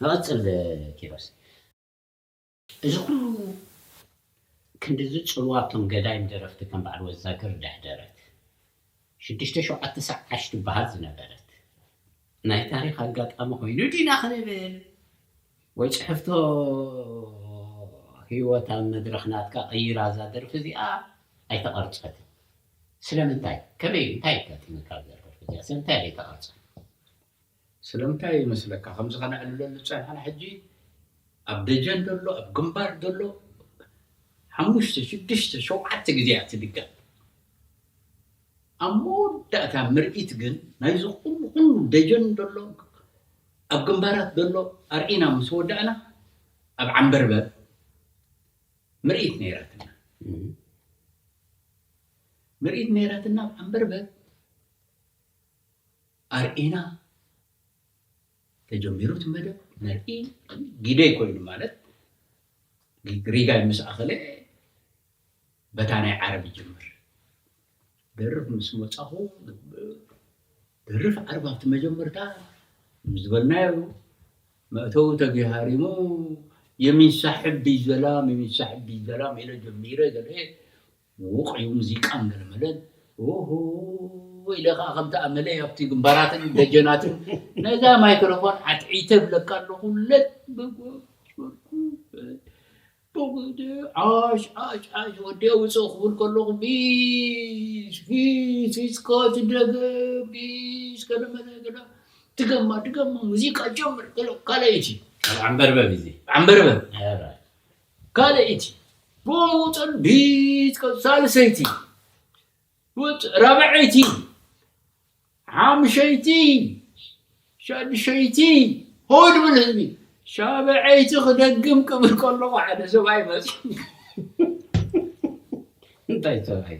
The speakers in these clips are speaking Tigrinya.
ንቐጽል ኪሮስ እዚ ኩሉ ክንድዚ ጽልዋ ኣብቶም ገዳይም ደረፍቲ ከም በዓል ወዛግር ደሕደረት ሽዱሽተ ሸውዓተ ሳዕ ዓሽ ትበሃል ዝነበረት ናይ ታሪኽ ኣጋጣሚ ኮይኑ ዲና ክንብል ወይ ጽሕፍቶ ሂወት ኣብ መድረኽ ናትካ ቀይራ እዛ ደርፊ እዚኣ ኣይተቀርጸትን ስለምንታይ ከመይ እንታይ ኣጋጢሙካ እዛ ደርፊ እዚኣ ስለምንታይ ኣይተቀርጸን ስለምንታይ ይመስለካ ከምዚ ከነዕልለሉ ዝጸናሕና ሕጂ ኣብ ደጀን ዘሎ ኣብ ግንባር ዘሎ ሓሙሽተ ሽዱሽተ ሸውዓተ ግዜ እያ ትድገም ኣብ መወዳእታ ምርኢት ግን ናይዚ ኩሉ ኩሉ ደጀን ዘሎ ኣብ ግንባራት ዘሎ ኣርኢና ምስ ወዳእና ኣብ ዓምበርበር ምርኢት ነይራትና ምርኢት ነይራትና ኣብ ዓምበርበር ኣርኢና ተጀሚሩ እቲ መደብ ነርኢ ጊደይ ኮይኑ ማለት ሪጋይ ምስ ኣኸለ በታ ናይ ዓረብ ይጅምር ደርፍ ምስ መጻኹ ደርፍ ዓረብ ኣብቲ መጀመርታ ዝበልናዮ መእተዊ ተገሃሪሙ የሚንሳሕብ ቢዘላም የሚንሳሕብ ቢዘላም ኢለ ጀሚረ ገለ ምዉቕ'ዩ ሙዚቃ መለመለን ኡሁይ ኢለ ከኣ ከምቲ ኣመለይ ኣብቲ ግንባራትን ደጀናትን ነዛ ማይክረፎን ዓትዒተ እብለካ ኣለኹ ለበጎበርኩ ብቕዲ ዓሽ ዓሽ ዓሽ ወዲኤ ውጽእ ክብል ከለኹ ቢሽ ቢሽ ቢሽካ ትደገም ቢሽ ከደመለ ገዳ ድገማ ድገማ ሙዚቃ ጀምር ገለ ካልኣይቲ ዓምበርበብ እዚ ዓምበርበብ ካልኣይቲ ብኡምኡ ጸቢት ቀጽ ሳልሰይቲ ውጥ ራብዐይቲ ሓምሸይቲ ሻድሸይቲ ሆ ድብል ህዝቢ ሻብዐይቲ ክደግም ቅብል ከለኹ ሓደ ሰብኣይ መጽ እንታይ ሰብኣይ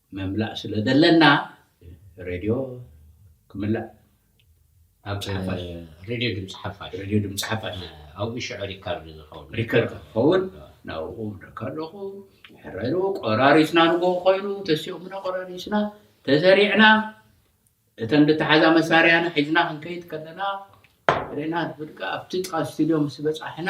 ምምላእ ስለ ዘለና ሬድዮ ክምላእ ኣብ ሓፋሽ ሬድዮ ድምፂ ሓፋሽ ሬድዮ ድምፂ ሓፋሽ ኣብኡ ሽዑ ሪካርድ ዝኸውን ሪከርድ ክኸውን ናብኡ ምደካ ኣለኹ ሕረሩ ቆራሪስና ንጎ ኮይኑ ተሲኦምና ቆራሪስና ተሰሪዕና እተን ዝተሓዛ መሳርያና ሒዝና ክንከይድ ከለና ሬና ብድቃ ኣብቲ ጥቃ ስቱድዮ ምስ በፃሕና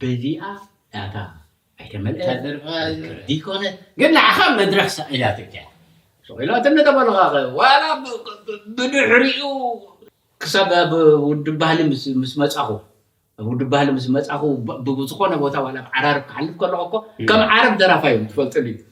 በዚኣ ዳታ ኣይተመልኣት ትዝክር ዘይኮነት ግን ንዓኻ መድረኽ ሰቒላትካ እያ። ሰቒላትኒ ተበልኻኸ ዋላ ብድሕሪኡ ክሳብ ኣብ ውድብ ባህሊ ምስ መጻኹ ኣብ ውድብ ባህሊ ምስ መጻኹ ብዝኾነ ቦታ ዋላ ብ ዓራርብ ክሓልፍ ከለኹ እኮ ከም ዓረብ ደራፋይ እዮም ዝፈልጡኒ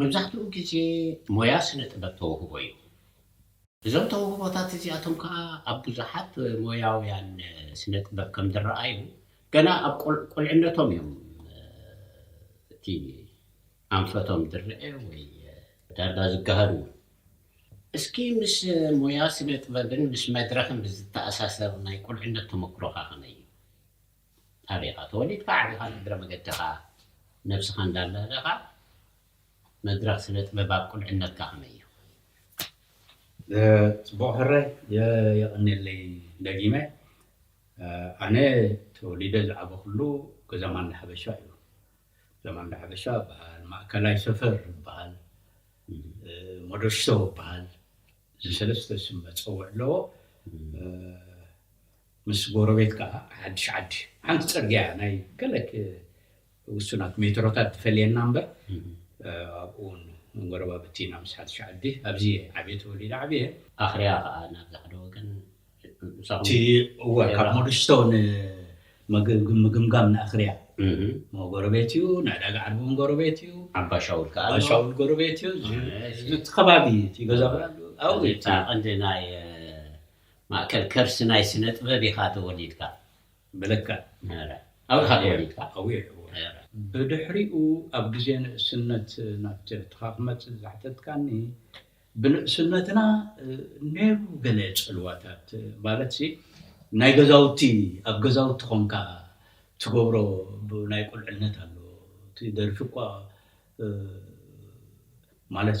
መብዛሕትኡ ግዜ ሞያ ስነ ጥበብ ተውህቦ እዩ። እዞም ተውህቦታት እዚኣቶም ከኣ ኣብ ብዙሓት ሞያውያን ስነ ጥበብ ከም ዝረኣዩ ገና ኣብ ቁልዕነቶም እዮም እቲ ኣንፈቶም ዝረኣ ወይ ዳርጋ ዝገሃድ እውን። እስኪ ምስ ሞያ ስነ ጥበብን ምስ መድረኽን ብዝተኣሳሰር ናይ ቁልዕነት ተመኩሮኻ ከመይ እዩ? ኣበይ ኢኻ ተወሊድካ ዓቢኻ ንእግረ መገድኻ ነብስኻ እንዳለህለኻ መድረኽ ስነ ጥበብ ኣብ ቁልዕነትካ ከመይ እዩ? ጽቡቕ ሕራይ የቐኔለይ ደጊመ ኣነ ተወሊደ ዝዓበኹሉ ገዛ ማንዳ ሓበሻ እዩ ገዛ ማንዳ ሓበሻ ይበሃል ማእከላይ ሰፈር ይበሃል ሞዶሽቶ ይበሃል እዚ ሰለስተ ስም መጸውዒ ኣለዎ ምስ ጎረቤት ከኣ ሓድሽ ዓዲ ሓንቲ ጽርግያ እያ፣ ናይ ገለ ውሱናት ሜትሮታት ትፈልየና እምበር ኣብኡ ውን ጎረባብቲ ኢና ምስ ሓድሽ ዓዲ፣ ኣብዚ እየ ዓብየ ተወሊደ ዓብየ። ኣኽርያ ከኣ ናብዚ ሓደ ወገን ምሳኹም እቲ እወ ካብ ኤራ። ሞደሽቶ ንምግ ምግምጋም ንኣኽርያ እህ እሞ ጎረቤት እዩ፣ ንዕዳጋ ዓርቢ ውን ጎረቤት እዩ፣ ዓባ ሻውል ከኣ ኣሎ። ዓባሻውል ጎረቤት እዩ፣ እዚ እሺ። እዚ እቲ ከባቢ እቲ ገዛ ብራንዱ ኣብኡ እዩ እቲ ኣቐንዲ ናይ ማእከል ከርሲ ናይ ስነጥበብ ኢኻ ተወሊድካ። ብልክዕ። ነረ። ኣብርሃ ተወሊድካ። ኣውየ። ነረ። ብድሕሪኡ ኣብ ግዜ ንእስነት ናብ ትርትኻ ክመጽእ ዘሕተትካኒ፣ ብንእስነትና ነሩ ገለ ጽልዋታት ማለትሲ ናይ ገዛውቲ ኣብ ገዛውቲ ኮንካ ትገብሮ ናይ ቁልዕነት ኣሎ እቲ ደርፊ እኳ ማለት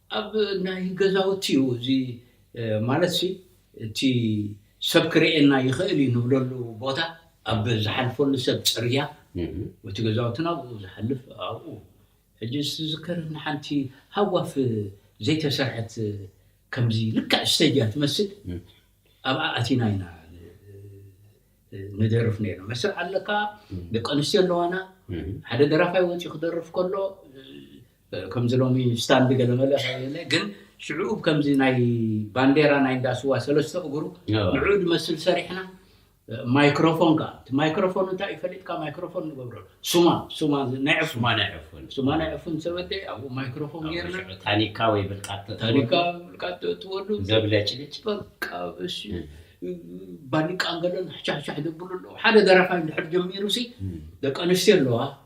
ኣብ ናይ ገዛውቲ እዩ እዚ ማለትሲ እቲ ሰብ ክርእየና ይኽእል እዩ ንብለሉ ቦታ ኣብ ዝሓልፈሉ ሰብ ፅርያ እቲ ገዛውትና ኣብኡ ዝሓልፍ ኣብኡ ሕጂ ዝትዝከረኒ ሓንቲ ሃጓፍ ዘይተሰርሐት ከምዚ ልክዕ እስቴጅ እያ ትመስል ኣብኣ ኣቲና ኢና ንደርፍ ነይርና መስርዕ ኣለካ ደቂ ኣንስትዮ ኣለዋና ሓደ ደራፋይ ወፂኡ ክደርፍ ከሎ ከምዚ ሎሚ ስታንድ ገለመለ ከየለ ግን ሽዑ ከምዚ ናይ ባንዴራ ናይ እንዳ ስዋ ሰለስተ እግሩ ንዕኡ ዝመስል ሰሪሕና ማይክሮፎን ከኣ እቲ ማይክሮፎን እንታይ እዩ ፈሊጥካ ማይክሮፎን ንገብረሉ ሱማ ሱማ ናይ ሱማ ናይ ዕፉን ሱማ ናይ ዕፉን ሰበደ ኣብኡ ማይክሮፎን ጌርና ታኒካ ወይ ብልቃጥ ታኒካ ብልቃጥ ተእትወሉ ዘብለጭልጭ በቃ እሺ ባሊቃ ገለን ሕቻሕቻሕ ዘብሉ ኣለዉ ሓደ ደራፋይ እንድሕር ጀሚሩሲ ደቂ ኣንስትዮ ኣለዋ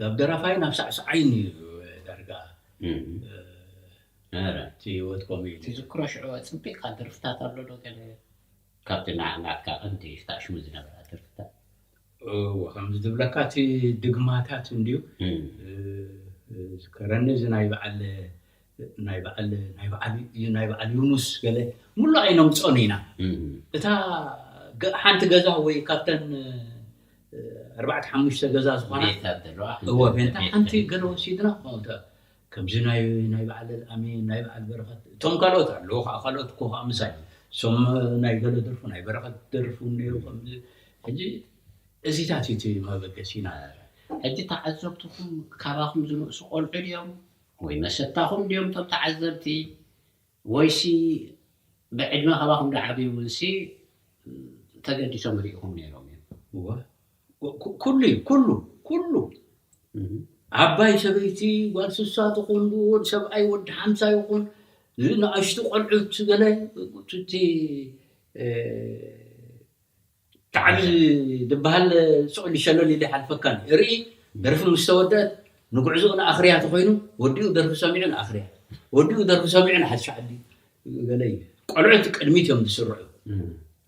ናብ ደራፋይን ናብ ሳዕሳዓይን እዩ ዳርጋ እቲ ህይወት ከምኡ እዩ። ትዝክሮ ሽዑ ኣጽቢቕካ ደርፍታት ኣሎ ዶ ገለ ካብቲ ናዓናትካ ቀንዲ ታኣሽሙ ዝነበራ ደርፍታት? እወ ከምዚ ዝብለካ እቲ ድግማታት እንድዩ ዝከረኒ እዚ ናይ በዓል ናይ በዓል ናይ በዓል ዩ- ናይ በዓል ዩኑስ ገለ ሙሉእ ኣይነምጾን ኢና እታ ገ- ሓንቲ ገዛ ወይ ካብተን እ፣ ኣርባዕተ ሓሙሽተ ገዛ ዝኾና ቤታት ዘለዋ ሓንቲ እወ ቤት ቤታ ሓንቲ ተኸፊታ። ገለ ወሲድና ከምኡ ተ- ከምዚ ናይ ናይ በዓል ኣልኣሚን ናይ በዓል በረኸት እቶም ካልኦት ኣለዉ ከዓ ካልኦት እኮ ከዓ ምሳይ እሶም ናይ ገለ ደርፉ ናይ በረኸት ደርፉ እኒአው ከምዚ ሕጂ እዚታት እዩ እቲ መበገሲና ሕጂ ተዓዘብትኹም ካባኹም ዝንእሱ ቆልዑ ድዮም ወይ መሰታኹም ድዮም እቶም ተዓዘብቲ ወይሲ ብዕድመ ካባኹም ድዓብዩ እውንሲ ተገዲሶም ሪኢኹም ነይሮም እዮም? እወ ኩሉ እዩ ኩሉ ኩሉ ዓባይ ሰበይቲ ጓል ስሳ ትኹን ወድ ሰብኣይ ወዲ ሓምሳ ይኹን ንኣሽቱ ቆልዑት ገለ እቲ ብጣዕሚ ድበሃል ስቅሊ ሸለል ኢሉ ይሓልፈካ ኣሎ እርኢ ደርፊ ምስ ተወደእት ንጉዕዞኡ ንኣኽርያ ተኾይኑ ወዲኡ ደርፊ ሰሚዑ ንኣኽርያ ወዲኡ ደርፊ ሰሚዑ ንሓድሽ ዓዲ ገለ እዩ ቆልዑት ቅድሚት እዮም ዝስርዑ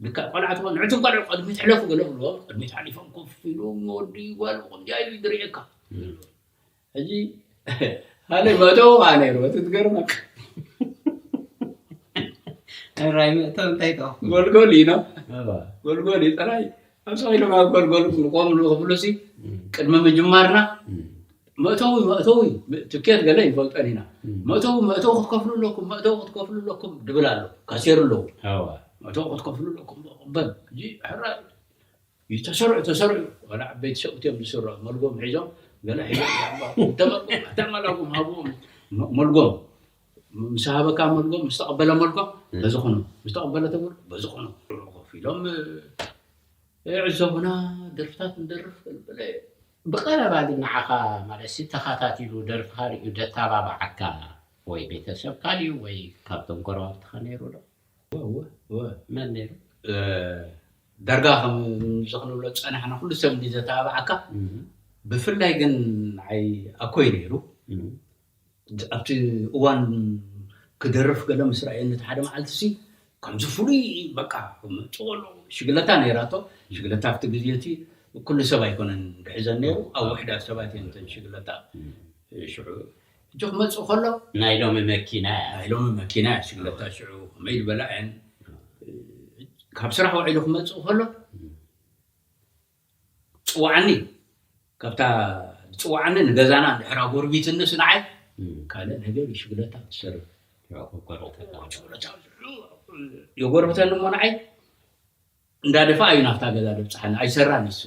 ልክዕ ቆልዓ ተኾይኑ ንዕቱም ቆልዑ ቅድሚት ሕለፉ ገለ ክብልዎም ቅድሚት ሓሊፎም ኮፍ ኢሎም ወዲ ጓል ብኸምዚኣ ኢሉ ድርዒካ ሕጂ ካልእ መእተዊ ከዓ ነይሩ እቲ ትገርመካ ራይ መእተዊ እንታይ ጥ ጎልጎል እዩ ኖ ጎልጎል እዩ ጥራይ ኣብ ሰቂሎም ኣብ ጎልጎል ንቆም ንክፍሉ ሲ ቅድሚ ምጅማርና መእተዊ መእተዊ ትኬት ገለ ይንፈልጠን ኢና መእተዊ መእተዊ ክትከፍሉ ኣለኩም መእተዊ ክትከፍሉ ኣለኩም ድብል ኣሎ ካሴሩ ኣለዉ መእተዊ ክትከፍሉ ኣለኩም በል ሕራይ እዩ ተሰርዑ ተሰርዑ ዋላ ዓበይቲ ሰብኡት እዮም ዝስርዑ መልጎም ሒዞም ገለ ሒዞም እንተመልጎም ኣተመላጉም ሃብዎም መልጎም ምስ ሃበካ መልጎም ምስ ተቐበለ መልጎም በዚ ኹኑ ምስ ተቐበለ ተመል በዚ ኹኑ ኮፍ ኢሎም ይዕዘቡና ደርፍታት ንደርፍ ብለ ብቐረባ ግን ንዓኻ ማለት ተኸታቲሉ ደርፍኻ ርእዩ ደተባብዓካ ወይ ቤተሰብካ ድዩ ወይ ካብቶም ጎረባብትኻ ነይሩ ዶ መን ነይሩ ዳርጋ ከምዚ ክንብሎ ዝጸናሕና ኩሉ ሰብ እንድዩ ዘተባብዓካ ብፍላይ ግን ንዓይ ኣኮይ ነይሩ ኣብቲ እዋን ክደርፍ ገለ ምስ ረኣየኒ እቲ ሓደ መዓልቲሲ ከምዚ ፍሉይ በቃ ጽቕሉ ሽግለታ ነይራቶ ሽግለታ ኣብቲ ግዜ እቲ ኩሉ ሰብ ኣይኮነን ድሕዘን ነይሩ ኣብ ውሕዳት ሰባት እየን እተን ሽግለታ ሽዑ ሕጂ ክመጽእ ከሎ። ናይ ሎሚ መኪና እያ። ናይ ሎሚ መኪና እያ ሽግለታ ሽዑ ከመይ ዝበላ እየን ካብ ስራሕ ውዒሉ ክመጽእ ከሎ ጽዋዓኒ ካብታ ዝጽዋዓኒ ንገዛና ድሕር ኣጎርቢትንስ ንዓይ ካልእ ነገር እዩ ሽግለታ ትሰርብ የጎርብተኒ እሞ ንዓይ እንዳደፋኣ እዩ ናብታ ገዛ ዘብጽሓኒ ኣይሰራን ንሱ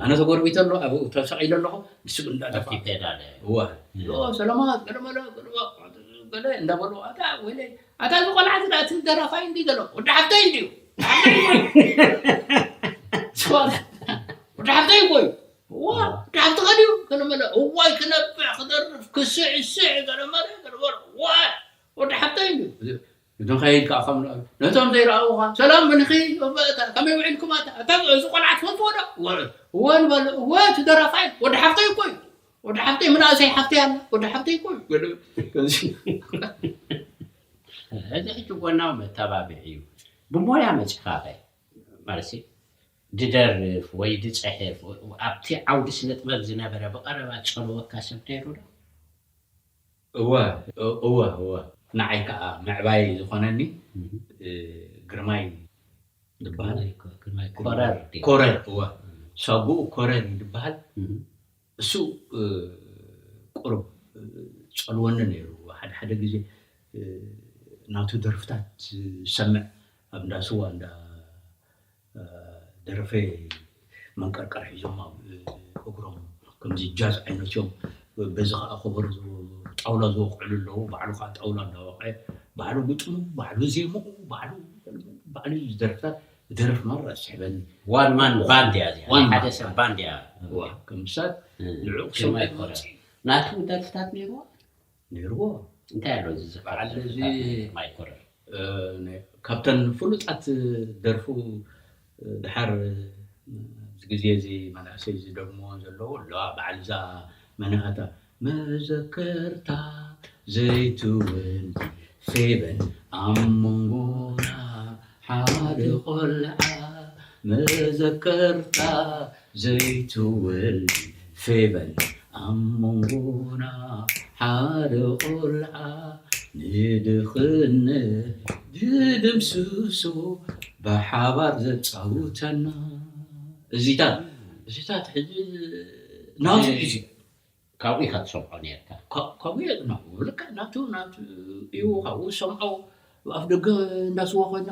ኣነ ተጎርቢተ ኣሎ ኣብኡ ተሰቂለ ኣለኹ ንሱ ግን እንዳደፋኣ እወ ሎ ሰለማት ገለመለ ገለ እንዳበሉ ኣታ ወይለይ ኣታ እዚ ቆልዓ እዚ እቲ ደራፋይ እንዲ ዘሎ ወዲ ሓፍተይ እንድዩ ወዲ ሓፍተይ እኮ እዩ ወዲ ሓፍትኻ ድዩ ገለመለ እዋይ ክነብዕ ክደርፍ ክስዕስዕ ገለመለ ገለመለ ወዲ ሓፍተይ እንድዩ ንኸይድ ከኣ ከም ነቶም ዘይረኣውኻ ሰላም ምንኺ ከመይ ውዒልኩም ኣታ እዚ ቆልዓ ትፈልጥዎ ዶ እወ ንበሎ እወ እቲ ደራፋይ ወዲ ሓፍተይ እኮ እዩ ወዲ ሓፍተይ ምናእሰይ ሓፍተይ ኣላ ወዲ ሓፍተይ እኮ እዩ እዚ ሕጂ ጎናዊ መተባብዒ እዩ ብሞያ መጺኻኸ ማለት ድደርፍ ወይ ድፅሕፍ ኣብቲ ዓውዲ ስነ ጥበብ ዝነበረ ብቐረባ ዝፀልወካ ሰብ ነይሩ ዶ እወ እወ እወ ንዓይ ክኣ ምዕባይ ዝኮነኒ ግርማይ ድብሃል ኮረር እወ ሳጉኡ ኮረር እዩ ድብሃል እሱ ቁሩብ ጸልወኒ ነይሩ ሓደ ሓደ ግዜ ናቱ ደርፍታት ዝሰምዕ ኣብ እንዳ ስዋ እንዳ ደረፈይ መንቀርቀር ሒዞም ኣብ እግሮም ከምዚ ጃዝ ዓይነት እዮም በዚ ከኣ ከበሮ ጣውላ ዝወቅዕሉ ኣለዉ ባዕሉ ከኣ ጣውላ እንዳወቅዐ ባዕሉ ግጥሙ ባዕሉ ዜምኡ ባዕሉ ባዕሉ እዩ ዝደርፍታት ዝደርፍ ማራ ዝስሕበኒ ዋን ማን ባንድ እያ እዚኣ ናይ ሓደ ሰብ ባንድ እያ እዋ ከም ምሳል ንዕኡ ክሰምዕ ክመጽእ እዩ ናቱ ደርፍታት ነይርዋ ነይርዎ እንታይ ኣሎ እዚ ዝበዓል ካብተን ፍሉጣት ደርፉ ድሓር ኣብዚ ግዜ እዚ መናእሰይ ዝደግምዎ ዘለዉ ኣለዋ በዓል እዛ መነሃታ መዘከርታ ዘይትወልዲ ፌበን ኣብ መንጎና ሓደ ቆልዓ መዘከርታ ዘይትውልድ ፌቨን ኣብ መንጎና ሓደ ቆልዓ ንድኽነት ዝድምስሶ ብሓባር ዘጻውተና እዚታት እዚታት ሕጂ ናቱ ሒዙ። ካብኡ ኢካ ትሰምዖ ኔርካ። ከምኡ እየ ዝናቦ ልክዕ ናቱ ናቱ እዩ ካብኡ ዝሰምዖ ኣፍ ደገ እንዳስዋ ኮይና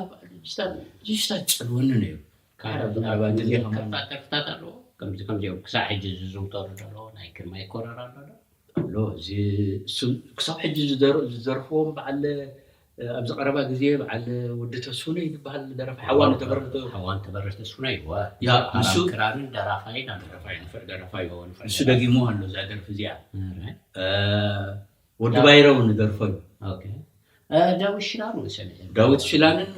ጅስታ ጸልወኒ ነይሩ ካብ ዝናባ ግዜ ከማን ተርፍታት ኣለዎ ከምዚ ከምዚ ክሳብ ሕጂ ዝዝውተሩ ደሎ ናይ ግርማይ ኮረር ኣሎ ኣሎ እዚ ክሳብ ሕጂ ዝደርፍዎም በዓል ኣብዚ ቀረባ ግዜ በዓል ወዲ ተስፉነይ ዝበሃል ደራፋይ ሓዋ ንተበርህ ዶ ሓዋ ንተበርህ ተስፉነይ እወ ንሱ ክራርን ደራፋይን ኣሎ ደራፋይ ንፍዕ ደራፋይ እወ ንፍዕ ንሱ ደጊምዋ ኣሎ እዛ ደርፊ እዚኣ ወዲ ባይረ እውን ይደርፎ እዩ ኦኬ ዳዊት ሽላን እውን ሰሚዐ ዳዊት ሽላንን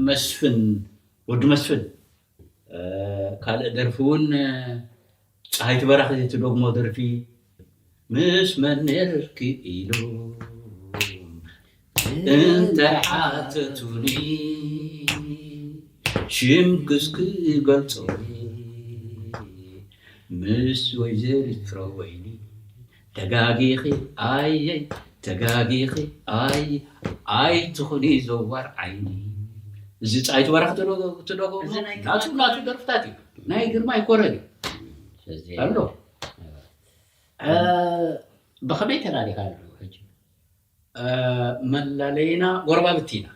መስፍን ወዲ መስፍን ካልእ ደርፊ ውን ጸሃይቲ በራኺ ትደግሞ ደርፊ ምስ መን ነርኪ ኢሎም እንተሓተቱኒ ሽምክስ ክገልጾ ምስ ወይዘሪት ፍረወይኒ ተጋጊኺ ኣይይ ተጋጊኺ ኣይይ ኣይትኹኒ ዘዋር ዓይኒ እዚ ጻይቱ በረኽ ትደጎ ናቱ ናቱ ደርፍታት እዩ ናይ ግርማይ ኮረን እዩ ኣሎ ብኸመይ ተላሊኻ ኣሎ ሕጂ መላለይና ጎረባብቲ ኢና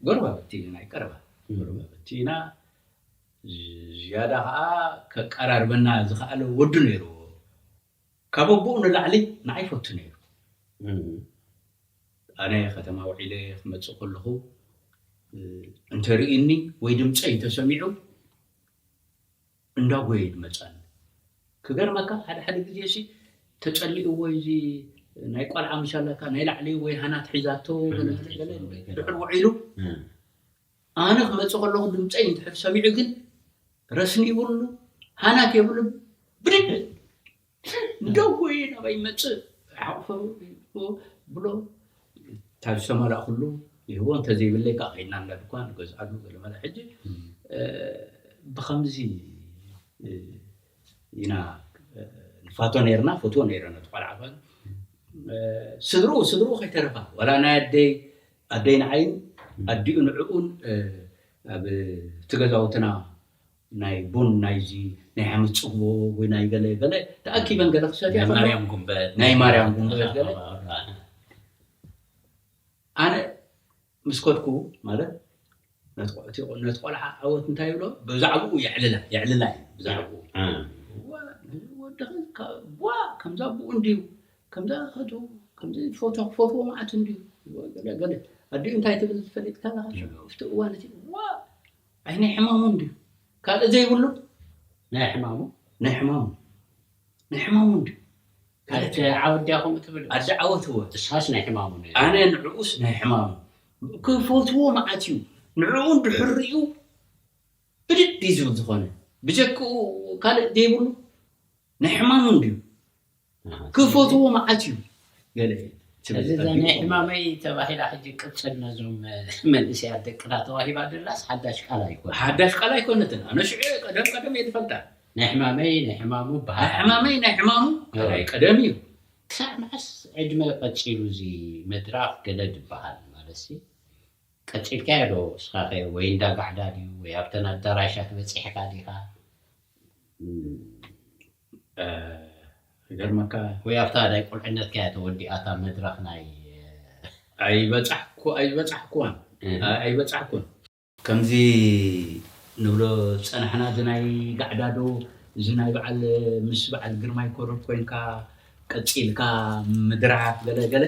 ጎረባብቲ ኢና ናይ ቀረባ ጎረባብቲ ኢና ዝያዳ ከኣ ከቀራርበና ዝኸኣለ ወዱ ነይርዎ። ካብ ኣቦኡ ንላዕሊ ንዓይ ይፈቱ ነይሩ። ኣነ ከተማ ውዒለ ክመጽእ ከለኹ እንተ ርእዩኒ ወይ ድምጸይ እንተ ሰሚዑ እንዳ ጎየዩ ድመጻኒ። ክገርመካ ሓደ ሓደ ግዜሲ ተጸሊእዎዩ እዚ ናይ ቆልዓ ምስ ኣላካ ናይ ላዕሊ ወይ ሃናት ሒዛቶ ገለ ገለ ገለ ድሕር ውዒሉ ኣነ ክመጽእ ከለኹ ድምጸይ እንድሕር ሰሚዑ ግን ረስኒ ይብሉ ሃናት የብሉን ብድድ እንደው ጎይ ናባይ ይመጽእ ሓቑፎ ብሎ ካብ ዝተመላእኩሉ ይህቦ እንተዘይብለይ ከዓ ከይድና እንዳ ድኳን ንገዝኣሉ ገለመለ ሕጂ ብከምዚ ኢና ንፋቶ ነርና ፈትዎ ነረ ነቲ ቆልዓ ስድርኡ ስድርኡ ከይተረፋ ዋላ ናይ ኣደይ ኣደይ ንዓይን ኣዲኡ ንዕኡን ኣብቲ ገዛውትና ናይ ቡን ናይዚ ናይ ዓመት ጽግቦ ወይ ናይ ገለ ገለ ተኣኪበን ገለ ክሰትያ ናይ ማርያም ጉንበት ናይ ማርያም ጉንበት ገለ ኣነ ምስ ከድኩ ማለት ነቲ ቆልዓ ዓወት እንታይ ይብሎ ብዛዕብኡ የዕልላ የዕልላ እዩ ብዛዕብኡ እዋእ ነዚ ወዲ ከዚ ቧእ ከምዚ ኣቡኡ እንድዩ ከምዚ ኣኸቱ ከምዚ ፎቶ ክፈትዎ መዓት እንድዩ ገለ ገለ ኣዲኡ እንታይ ትብል ፈሊጥካ ኣለኻ ሽዑ ኣብቲ እዋን እቲ እዋእ ኣይ ናይ ሕማሙ እንድዩ ካልእ ዘይብሉ ናይ ሕማሙ ናይ ሕማሙ ናይ ሕማሙ እንድዩ ኣደ ዓወት ድያ ከምኡ ትብል ኣደ ዓወት እወ እሳስ ናይ ሕማሙ ኣነ ንዕኡስ ናይ ሕማሙ ክፈትዎ መዓት እዩ ንዕኡ እንድሕር ሪኡ ብድድ እዩ ዝብል ዝኾነ ብጀክኡ ካልእ ደይብሉ ናይ ሕማሙ እንድዩ ክፈትዎ መዓት እዩ ገለ እዚ እዛ ናይ ሕማመይ ተባሂላ ሕጂ ቅጽል ነዞም መንእሰያት ደቅና ተዋሂባ ደላስ ሓዳሽ ቃል ኣይኮነ ሓዳሽ ቃል ኣይኮነትን ኣነ ሽዑ ቀደም ቀደም እየ ዝፈልጣ ናይ ሕማመይ ናይ ሕማሙ በሃል ናይ ሕማመይ ናይ ሕማሙ ቀደም እዩ ክሳዕ መዓስ ዕድመ ቀጺሉ እዚ መድራፍ ገለ ድበሃል ማለትሲ ቀጺልካዮ ዶ እስኻኸ ወይ እንዳ ጋዕዳ ድዩ ወይ ኣብተን ኣዳራሻት በጺሕካ ዲኻ ክገርመካ ወይ ኣብታ ናይ ቁልዕነትካ እያ ተወዲኣ እታ መድረኽ ናይ ኣይበጻሕኩ ኣይበጻሕኩዋን ኣይበጻሕኩን። ከምዚ ንብሎ ዝጸናሕና እዚ ናይ ጋዕዳዶ እዚ ናይ በዓል ምስ በዓል ግርማይ ኮርር ኮንካ ቀጺልካ ምድራፍ ገለ ገለ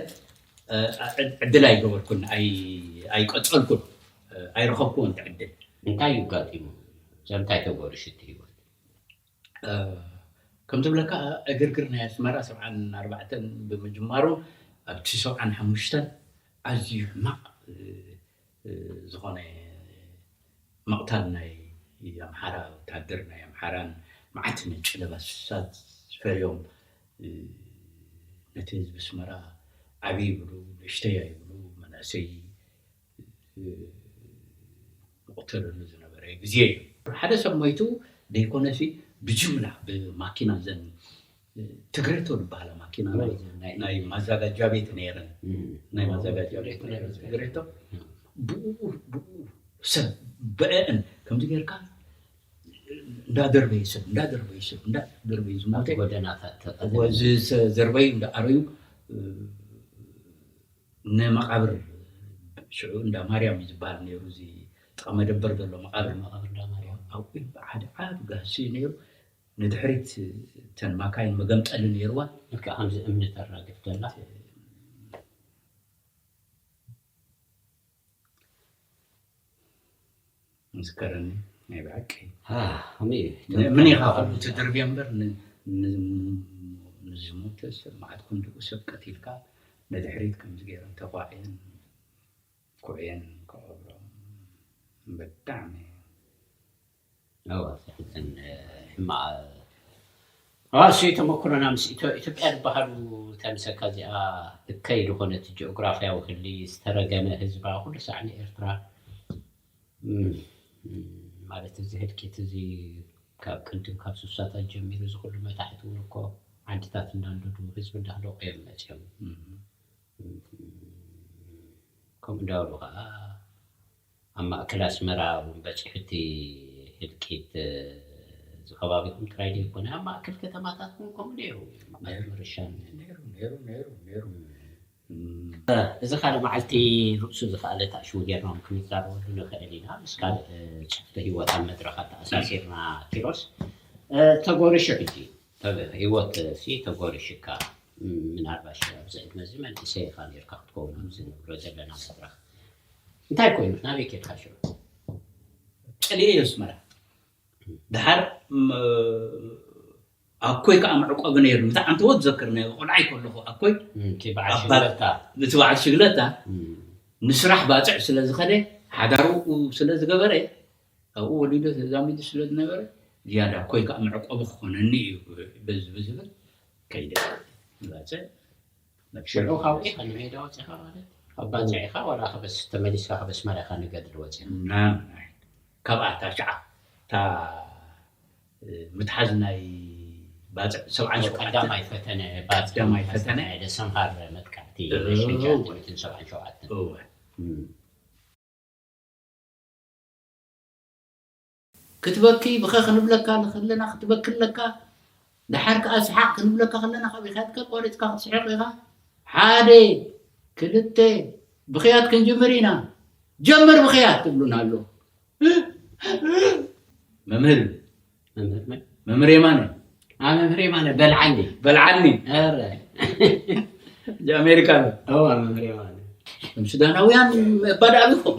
ዕድል ኣይገበርኩን ኣይቀጸልኩን ኣይረኸብኩዎን እቲ ዕድል። እንታይ እዩ ኣጋጢሙ ሰብ እንታይ ተገሩ ሽቲ ሂወት። ከም ዝብለካ ዕግርግር ናይ ኣስመራ ሰብዓን ኣርባዕተን ብምጅማሩ ኣብቲ ሰብዓን ሓሙሽተን ኣዝዩ ሕማቕ ዝኮነ ምቅታል ናይ ኣምሓራ ወታሃደር ናይ ኣምሓራን ማዓት ነጭ ለባሳት ፈርዮም ነቲ ህዝቢ ኣስመራ ዓብይ ይብሉ ንእሽተይ ኣይብሉ መናእሰይ ዝቅተለሉ ዝነበረ ግዜ እዩ። ሓደ ሰብ ሞይቱ ደይኮነሲ ብጅምላ ብማኪና እዘን ትግሬቶ ድበሃላ ማኪና ናይ ማዛጋጃ ቤት ነይረን ናይ ማዛጋጃ ቤት ነይረን ትግሬቶ ብኡ ብኡ ሰብ በአን ከምዚ ጌርካ እንዳ ደርበይ ሰብ እንዳ ደርበይ ሰብ እንዳ ደርበይ ዝሞተ ጎደናታት ዘርበዩ እንዳ ኣረዩ ንመቃብር ሽዑ እንዳ ማርያም እዩ ዝበሃል ነይሩ እዚ ጥቃ መደበር ዘሎ መቃብር መቃብር እንዳ ማርያም ኣብኡ ሓደ ዓብ ጋህሲ ነይሩ ንድሕሪት እተን ማካይን መገምጠሊ ነይርወን። ልክዕ ከምዚ እምኒ ተራግፍ ዘላ። ምስከረኒ ናይ ብሓቂ ከመይ እዩ ንእምኒ ኢኻ ከምኡ ትድርብዮ እምበር ንዝሞተ ሰብ መዓት ክንድኡ ሰብ ቀቲልካ ንድሕሪት ከምዚ ገይረን ተኳዕየን ኩዕየን ክቐብሮም ብጣዕሚ ራእሲ ተመኩሮና ምስ ኢትዮ-ኢትዮጵያ ዝበሃሉ እታ ምሰካ እዚኣ እከይ ዝኾነት ጂኦግራፍያዊ ክሊ ዝተረገመ ህዝባ ኩሉ ሳዕ ንኤርትራ ማለት እዚ ህልቂት እዚ ካብ ቅድም ካብ ስሳታት ጀሚሩ እዚ ኩሉ መታሕት እውን እኮ ዓድታት እንዳንደዱ ህዝቢ እንዳህለቁ እዮም መፅዮም ከምኡ እንዳበሉ ከዓ ኣብ ማእከል ኣስመራ ውን በጺሑ እቲ ህልቂት። እዚ ከባቢኹም ጥራይ ደይኮነ ኣብ ማእከል ከተማታት ውን ከምኡ ነይሩ መምህር ምርሻን። ነይሩ ነይሩ ነይሩ ነይሩ እም። እዚ ካልእ መዓልቲ ርእሱ ዝኸኣለ ታእሽሙ ጌርና ውን ክንዛረበሉ ንኽእል ኢና ምስ ካልእ ጽፍሒ ህይወት ኣብ መድረኽ ኣተኣሳሲርና ኪሮስ። ተጎሪሹ ሕጂ ህይወትሲ ተጎሪሹካ ምናልባሽ ኣብዚ ዕድመዚ መንእሰይ ኢኻ ኔርካ ክትከውን ኣብዚ ንብሎ ዘለና መድረኽ እንታይ ኮይኑ ናበይ ኬድካ ሽዑ ጨሊለ ኢዩ ኣስመራ ደሓር ኣኮይ ከዓ መዕቆቢ ነይሩ እቲ ዓንተቦ ትዘክር ቆልዓይ ከለኹ ኣኮይ እቲ በዓል ሽግለታ ንስራሕ ባፅዕ ስለ ዝኸደ ሓዳሩ ስለ ዝገበረ ካብኡ ወሊዶ ተዛሚዱ ስለ ዝነበረ ዝያዳ ኣኮይ ከዓ መዕቆቢ ክኾነኒ እዩ ብዝብል ከይደ ባፅዕ መብሸሎ ካውዒ ከ ንሜዳ ወጺኻ ማለት ኣብ ባጽዕ ኢኻ ዋላ ከበስ ተመሊስካ ከበስ ማርያ ኢኻ ንገድሊ ወጺኻ። ናብራይ ካብኣ እታ ሽዓ እታ ምትሓዝ ናይ ባጽዕ ሰብዓን ሸውዓተን ቀዳማይ ፈተነ ባጽዕ ቀዳማይ ፈተነ ዝተኻየደ ሰምሃር መጥቃዕቲ ናይ ሽሕን እወ ትሽዓተ ሚእትን ሰብዓን ሸውዓተን እወ። ክትበኪ ብኸ ክንብለካ ንክለና ክትበኪ ኣለካ ደሓር ከኣ ስሓቅ ክንብለካ ከለና ካበይካ ተቋሪጽካ ክትስሕቅ ኢኻ ሓደ ክልተ ብኽያት ክንጅምር ኢና ጀምር ብኽያት ትብሉና ኣሎ መምህር መምህር የማነ መምህር የማነ በልዓኒ በልዓኒ ኣሜሪካ መምህር የማነ ሱዳናውያን ባዳ ኣቢኹም